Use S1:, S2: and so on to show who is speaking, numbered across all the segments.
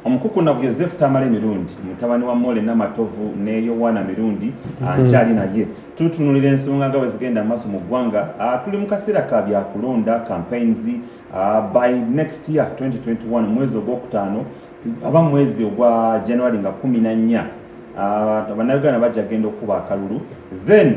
S1: omukukunavu yosefu tamale mirundi mutabani wa mole namatovu ne yowana mirundi mhm. ankyali naye tutunulira ensonga nga bwezigenda amaaso mu ggwanga ah, tuli mu kaseera ka byakulonda campaigns ah, by next year 2021 mwezi ogwokutaano aba mwezi ogwa january nga kumi na nnya ah, bannayuganda bajja genda okukuba akalulu then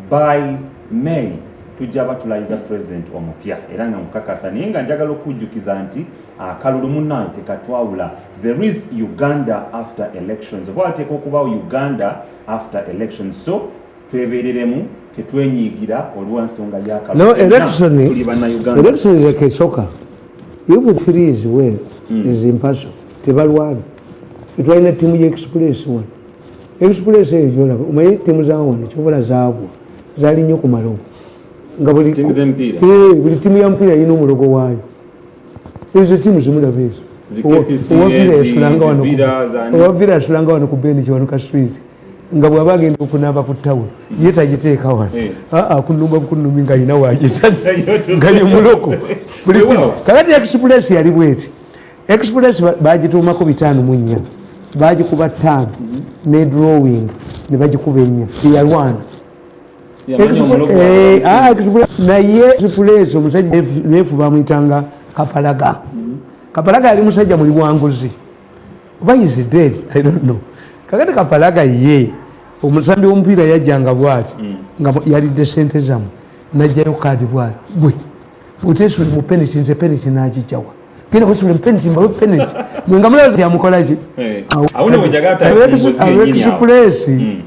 S1: by may tujja batulayiza president omupya era nga mukakasa naye nga njagala okujjukiza nti akalulu munaye tekatwawula there is uganda after elections oba wateeka okubawo uganda after elections so twebereremu tetwenyigira olwansonga yakaluluelectionekesoka
S2: even three is well mm. is impersonal tebalwana fetwalina tiimu ya express one express eyo gyolaba omaye timu zawano kyobola zaagwa zali nnyo ku malogo nga buli eh, timu ya mupiira yina omulogo waayo ezo timu zimulaba ezo owavira asulanga wano ku beniki wano ka swizi nga bwaba agenda okunaba ku tawulo ye tagiteeka wano eh. aa ah, ah, kunumba bukunumi nga yina wagisa nga yemuloko kakati express yali bweti express bagituumako bitaano mu nnya bagikuba taano ne drawing ne bagikuba ennya teyalwana eh, ah, naye express omusajja nefu bamuyitanga kapalaga mm-hmm. kapalaga yali musajja muli bwanguzi oba is dead i don't know kakati kapalaga ye omusambi womupiira yajjanga bwati mm. nga yalidde sente zamu najjayo kaadi bwati gwe oteesoli mu peniti nze peniti nagijjawa genda kusula penalty mbawe penalty mwe nga mulazi yamukolaki eh, abetusupuleesi hmm.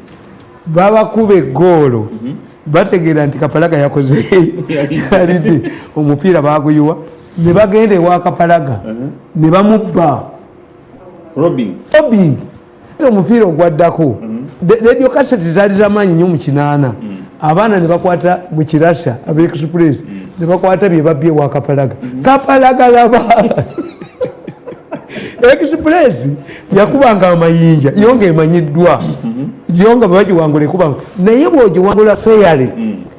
S2: babakuba egoolo mhm. bategeera nti kapalaga yakoze alidde omupiira baguyiwa ne bagenda ewa kapalaga uh-huh. ne bamubba
S1: robing
S2: omupiira ogwaddako mm-hmm. radio kaseti zaali zamaanyi nyo mu kinaana mm-hmm. abaana nebakwata mu kirasa abaexpress mm-hmm. nebakwata byebabbye wa kapalaga kapalaga laba express yakubanga amayinja yo nga emanyiddwa yo nga bwebagiwangula ekubanga naye bwogiwangula feyale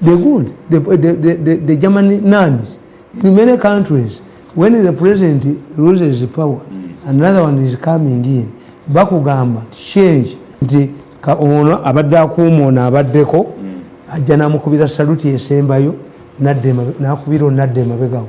S2: The good, the, the, the, the, the Germany nuns, in many countries, when the president loses power, mm. another one is coming in. Bakugamba, change, nti ka ono abadde akuuma ono abaddeko mm. ajja namukubira saluti esembayo nakubira onadde emabegawo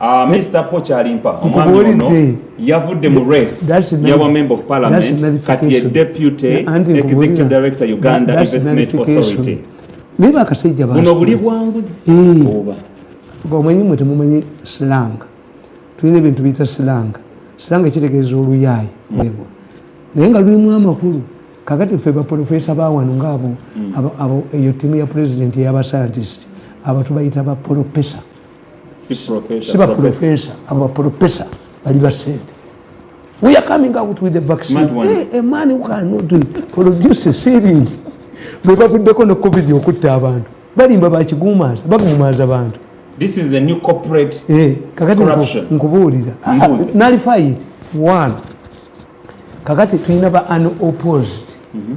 S1: Uh, Mr. Poch Alimpa omwami ono yavudde mu race yawa member of parliament kati ye deputy executive director Uganda Investment Authority naye
S2: bakasajja buno buli bwanguzi
S1: eh. oba omanyi
S2: mwe temumanyi silanga tulina ebintu biyita silanga silanga ekitegeeza oluyaayi nebo naye nga lulimu amakulu kakati ffe baprofesa bawano ngaabo hmm. eyo ttiimu ya pulezidenti eyabasayantisiti abatu bayita baprofesa si baprofesa abo baprofesa bali basente we are coming out with the vaccine hey, eh, a man who cannot produce a sealing lwe bavuddeko ne covid okutta abantu balimba bakiguumaaza baguumaaza bantu this is a new
S1: corporate eh kakati nkubuulira
S2: ah, ah, nalify it one kakati tulina ba unopposed mm -hmm.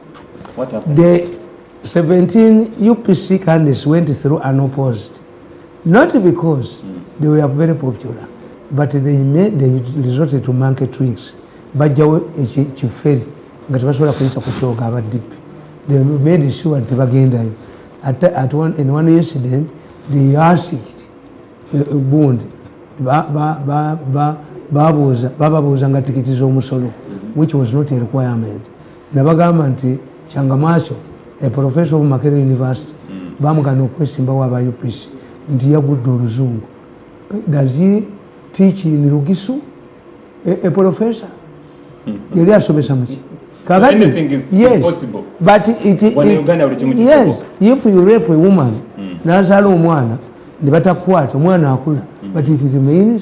S1: the
S2: 17 upc candidates went through unopposed not because mm. they were very popular but they made they resorted to monkey tricks bajjawo kiferi nga tebasobola kuyita ku kyoga abadipi they made sure nti tebagendayo at, at one, in one incident they asked uh, uh, bund babuuza bababuuza nga tikiti z'omusolo which was not a requirement nabagamba nti kyangamwaso a professor of makere university mm. bamugana okwesimbawo aba upc nti yagudde oluzungu does he teach in lugisu a, a professor hmm. yali asomesa muki kakati so anything is,
S1: yes, is possible but it, it, it,
S2: it yes if you rape a woman mm. nazaala omwana ne batakwata omwana akula mm. but it remains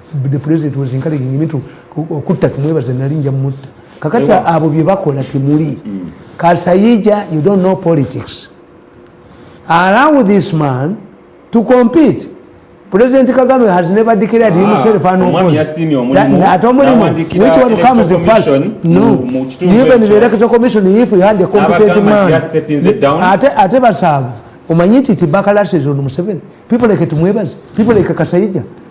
S2: the president was encouraging me to okutta tumwebaze nali nja mutta kakati abo bye bakola temuli mm. kasayija you don't know politics allow this man to compete president kagame has never declared ah, himself an opposeat omulimu which one comes first no even the electoral commission if you had a competent man ate ate basaavu omanyi nti ti bakalasizonu museveni people like tumwebaze people like kasayija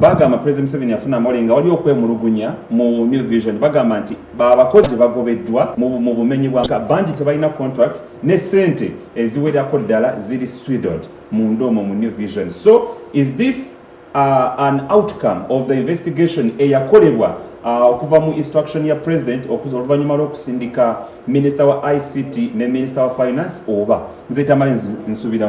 S1: bagamba president museveni yafuna amawulire nga waliwo okwemulugunya mu new vision bagamba nti babakozi bagobeddwa mu bumenyi bwa bangi tebalina contract ne sente eziwerako ddala ziri swidod munda omwo mu new vision so is this uh, an outcome of the investigation eyakolebwa uh, okuva mu instruction ya president oluvannyuma lw'okusindika minisita wa ict ne minisita wa finance oba nze tamale nsubira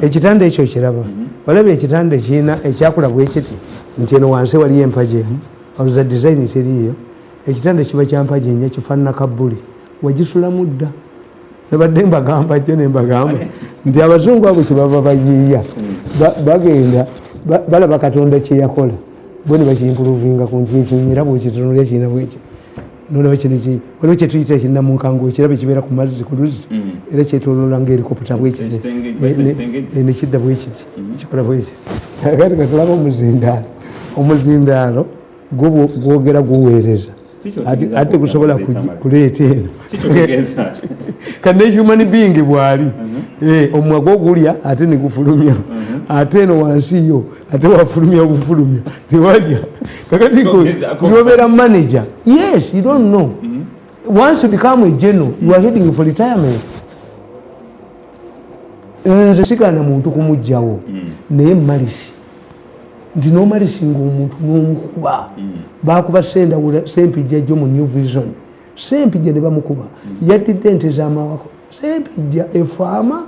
S1: ekitanda ekyo kiraba
S2: mhm. olaba ekitanda kirina ekyakula bwekiti nti eno wansi waliyo empaji emu oluza dizayini kiriyo ekitanda kiba kyampaji nya kifaanana kabbuli wagisulamu dda nabadde mbagamba jjo nembagamba nti abazungu abo kyebaba bayiiya mm. bagenda balaba katonda kyeyakola bo ne bakimpuluvinga ku nti ekinyera bwekitunulya kirina bwekyo nolaba kino waliwo kyetuyita ekinamunkango ekiraba ekibeera ku mazzi ku luzzi mm. era kyetolola nga erikoputa bwekiti nekidda bwekiti mm-hmm. kikola bwekiti kati katulaba omuzindaalo omuzindaalo gwogera guweereza ate gusobola kuleeta eno kane human being bwali mm-hmm. eh, omwaga ogulya ate negufulumya mm-hmm. ate eno wansi yo ate wafulumya bufulumya tewalya kakati nobeera manager yes you don't know mm -hmm. once you become a general you are heading for retirement nze sigana muntu kumugjawo mm. naye malisi nti nomalisi nga omuntu nomukuba mm. bakuba sendawula sempijja jo mu new vision sempijja nebamukuba mm. yatidde ente zamawako sempijja efaama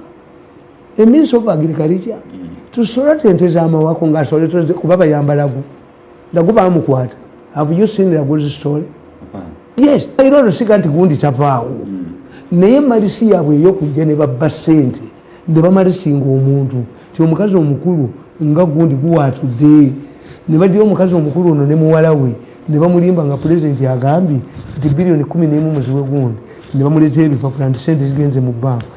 S2: a minister of agriculture mm. tusola tente zamawako nga asole tente kuba bayambalagu lagu bamukwata have you seen laguzi story yes era olusika nti gundi tavaawo mm. naye malisi yabwe eyokujja ne babba sente ne bamalisinga omuntu ti omukazi omukulu nga gundi guwatudde ne badira omukazi omukulu ono ne muwala we ne bamulimba nga pulezidenti agambye nti biliyoni kumi nemu muziwe gundi ne bamuleza ebipapula nti sente zigenze mu banka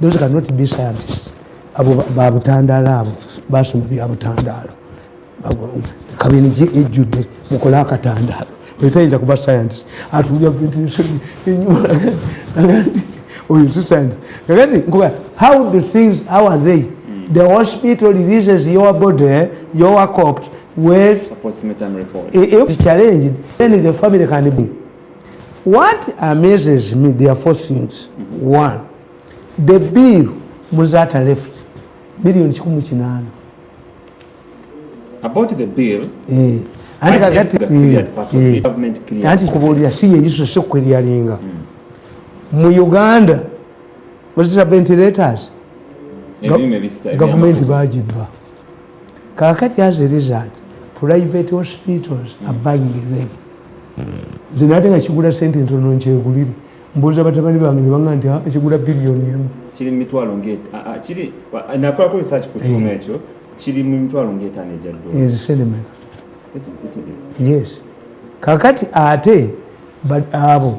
S2: those cannot be scientists abo babutandaalo abo basoma byabutandaalo kabini gye ejjudde mukole akatandaalo etayinza kuba scientist atulya bintu oyo si scientist kakati nkuba how do things how are they the hospital releases your body your corpse
S1: with a, a challenge
S2: then the family can be what amazes me there are four things one the bill muzata left billion kikumi kinaana
S1: about the bill eh. anti kakati eh, eh. anti kubuulira si yeyiso si kweryalinga hmm. mu
S2: uganda wazita ventilators gavumenti bagibba kakati as a result private hospitals are buying them zino ate nga kigula sente ntono nkyegulire mbuuza batabani bange nebanga nti ah, kigula biliyoni emu kiri mumitwalo
S1: kiri nakolako research ku kyuma eh. ekyo kiri mu mitwalo ngaetaano egya dosenemeka
S2: yes kakati ate abo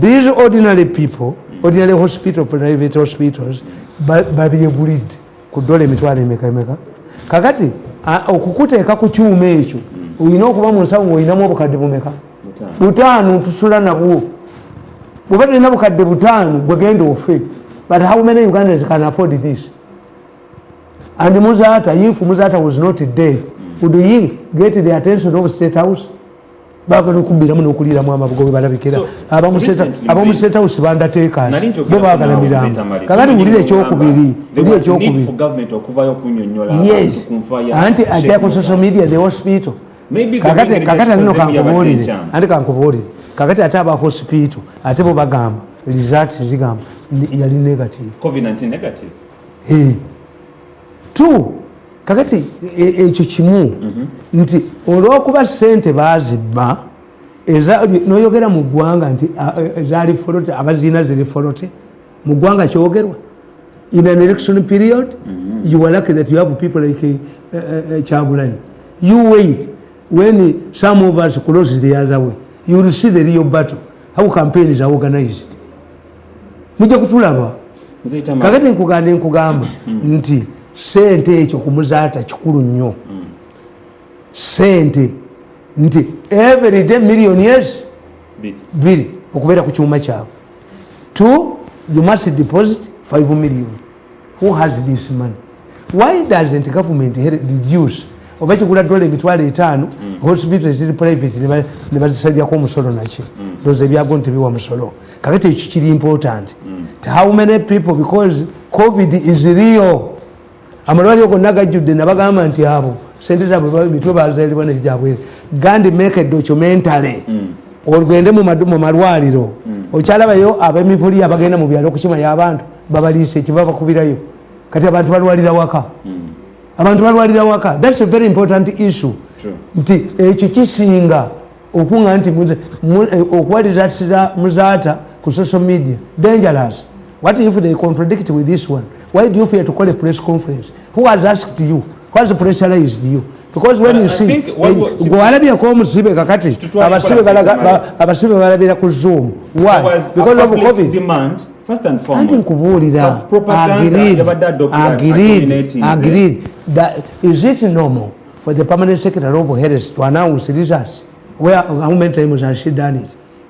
S2: these ordinary people ordinary hospital private hospitals babyegulidde ku dola emitwalo emeka emeka kakati okukuteeka ku kyuma ekyo olina okuba mu nsawo ngaolinamu obukadde bumeka butaano tusula nabwo bweba tulina bukadde butaano gwegenda ofe but how many ugandans can afford this and muzata if muzata was not dead would he get the attention of state house bagala okubbiramu n'okuliiramu amabugo bwe balabikira abamusetawusi bandateekaani bo bagala mirambo kakati wulira ekyokubiri ndi ekyokubiri anti ajja ku social media the hospital kakati kakati anino kankubuulire anti kankubuulire kakati ate aba hospital ate bo bagamba result zigamba yali negative covid 19
S1: negative
S2: t kakati e, e, ekyo kimu mhm. nti olwokuba sente bazibba noyogera mu ggwanga nti ezali folote abaziina ziri folote mu ggwanga kyogerwa in an election period mhm. you are lucky that you have people like eh, eh, eh, kyagulanyi you wait when some of us close the other way you will see the real battle how campaign is organized mujja kutulaba kakati nkuganda enkugamba hmm. nti sente ekyo kumuzaata kikulu nnyo hmm. sente nti everyday million years biri okubeera ku kyuma kyabwe t you must deposit 5 million who has this money why doesn't government reduce oba kigula dola emitwalo etaano mm. hospital eziri private ne bazisalyako omusolo naki mm. doza ebyago nti biwa musolo kakati ekyo kiri important mm. to how many people because covid is real amalwaliro gonna gajjudde nabagamba nti abo sente zabwe mitwe bazalibwa nebyabwere gandi make a documentary olugende mu malwaliro okyalabayo abemivuli abagenda mu byalo okukimayo abantu babaliise kye babakubirayo kati abantu balwalira waka hmm. abantu balwalira waka thats a very important issue nti ekyo kisinga okunga nti eh, okuwaliratira muzaata ku social media dangerous what if they contradict with this one why do you fear to call a press conference who has asked you gwewalabyeko omusibe kakati abasibe balabira ku zoom
S1: anti nkubuulira
S2: is it normal for the permanent secretary of heres to announce results where how many times has she done it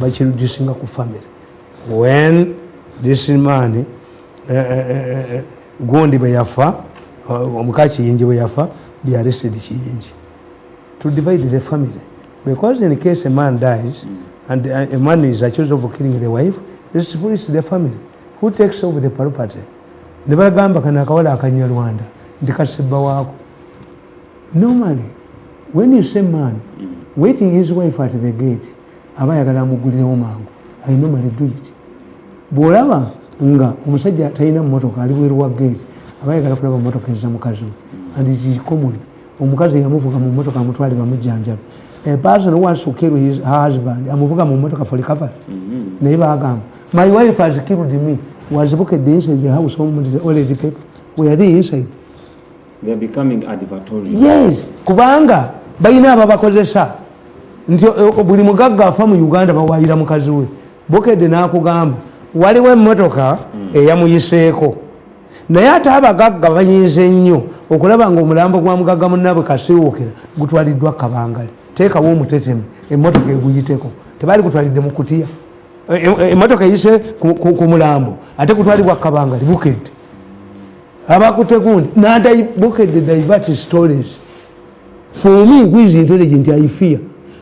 S2: bakirudisinga ku family when this man eh, eh, eh, gundi bwe yafa omuka kiyingi bwe yafa they arrested kiyingi to divide the family because in case a man dies mm. and a man is accused of killing the wife this police the family who takes over the property ne bagamba kana akawala akanywa rwanda nti kasibba waako normally when you say man mm. waiting his wife at the gate aba ayagala amugulirewo mangu i normally do it bwolaba nga omusajja talina mumotoka ali bweru wa gate aba ayagala kulaba mumotoka eza mukazi we and it is common omukazi yamuvuga mu motoka amutwale bamujjanjabi a person who wants to kill his husband amuvuga mu motoka for recovery mm-hmm. naye bagamba my wife has killed me was bukedde inside the house omudire already people were they inside
S1: yes kubanga
S2: balina ababakozesa nti eh, buli mugagga afa mu uganda bawayira mukazi we bukedde n'akugamba waliwo emmotoka hmm. eyamuyiseeko naye ate abagagga bayinza ennyo okulaba nga omulambo gwa mugagga munabwe kasiwuukira gutwaliddwa kabangali teekawo omutetemu emmotoka eguyiteko tebaali gutwalidde mu kutiya eh, eh, emmotoka eyise ku mulambo ate gutwalibwa kabangali bukedde abakute gundi nadaibukedde divert stories for me who is intelligent i fear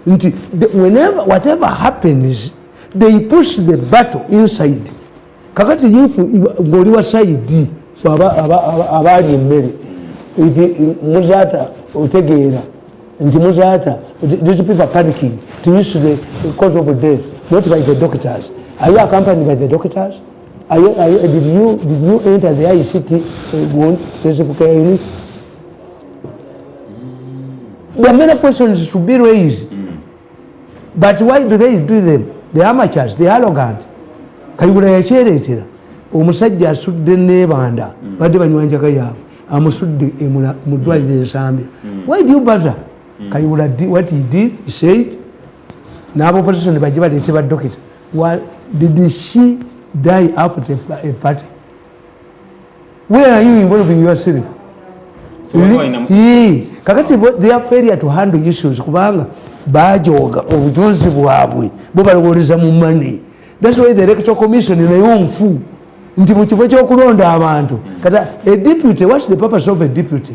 S2: nti whenever whatever happens they push the battle inside kakati if ngoli wa side abaali emmere nti muzata otegeera nti muzata these people are panicking to use the cause of death not by the doctors are you accompanied by the doctors Are you, are you, did, you, did you enter the ICT uh, intensive care unit? Mm. There are many questions to be raised. Mm. But why do they do them? The amateurs, the arrogant. Kayugula yakyereetera omusajja asudde nebanda mm. badde banywa njaka yaabwe amusudde e mu ddwaliro mm. ensambya mm. why do you bother mm. kayugula what he did he said n'aboposition bajje baleete badokita Well, did she die after a party? Where are you involving your city? So
S1: Li,
S2: kakati their failure to handle issues kubanga bajoga obujozi bwabwe bo balowoleza mu money that's why the electoral commission nayo nfu nti mu kifo ky'okulonda abantu kata a deputy what's the purpose of a deputy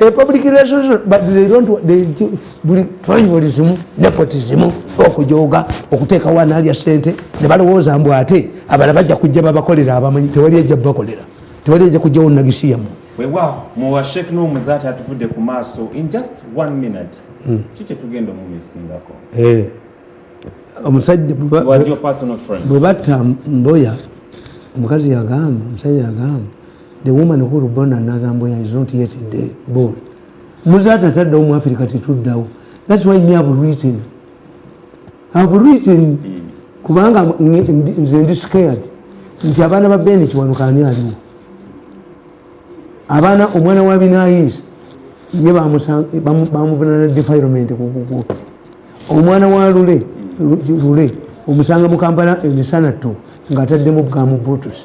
S2: a public relations but they don't they buli tribalism nepotism okujoga okuteka wana ali asente ne balowoza mbu ate abala bajja kujja babakolera abamanyi tewali ajja bakolera tewali ajja kujja wonna gisiyamu wewa muwa
S1: sheik no muzati atuvudde ku maaso in just one minute hmm. kikye tugenda omumisingako eh.
S2: omusajja
S1: bwe batta
S2: mboya omukazi yagamba omusajja yagamba the woman who will born another mboya is not yet dead born muzaata taddawo mu africa tetuddawo that's why me have written have written kubanga nze ndi scared nti abaana ba bene kiwanuka ani aliwo abaana omwana wa binayinza ye bamuvunana defilement kukuku omwana wa lule lule omusanga mukampala emisana to ngaataddemu bwamu butusi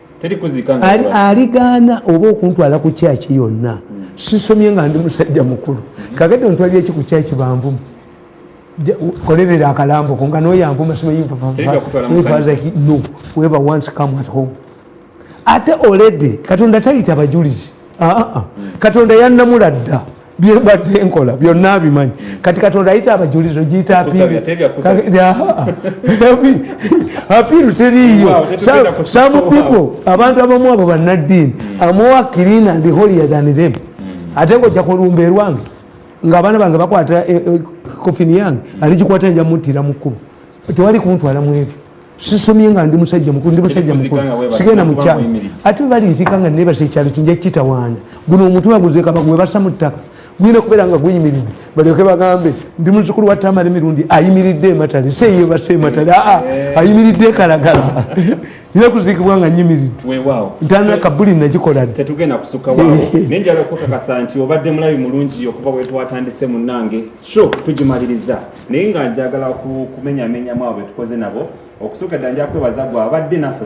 S2: aligaana oba okuntwala ku kyaki yonna hmm. sisomye nga ndi musajja mukulu kagati ontwalira eki ku kyaki banvumu kolerera akalambo ko nga noyanvuma simayinfazaki no weba once come at home ate olede katonda tayita bajulizi ah, ah, ah. hmm. katonda yanamula dda byebadde nkola byonna abimanyi kati katonda ayita abajulizi ogiyita apiiru teriiyo some people abantu abamu abo bannaddiini amuwa kirina ndi holier than them hmm. ate ngojja kulumba erwange ngaabaana bange bakwata eh, eh, kofini yange aligikwata nja muttira mu kkubo tewali kuntwala mu ebyo sisomye nga ndi musajja mukulu ndi musajja mukulu sigenda mukyalo ate bali nzika nga nebasa ekyalo kinja kitawaanya guno omutwe waguzeka bagwebasa mu ttaka guyina kubeera nga guyimiridde balyoke bagambe ndi muzukulu wa tamale mirundi ayimiridde ematale seyebasa ematale aa eh. ayimiridde ekalagala ina kuziikibwa nga nyimiridde ntana kabuli nagikola dde tetugenda kusukawawo
S1: naye njala okukakasa nti obadde mulabi mulungi okuva wetwatandise munange sho tugimaliriza naye nga njagala kumenyamenyamu abo betukoze nabo okusooka dda nja kwebaza gwe abadde naffe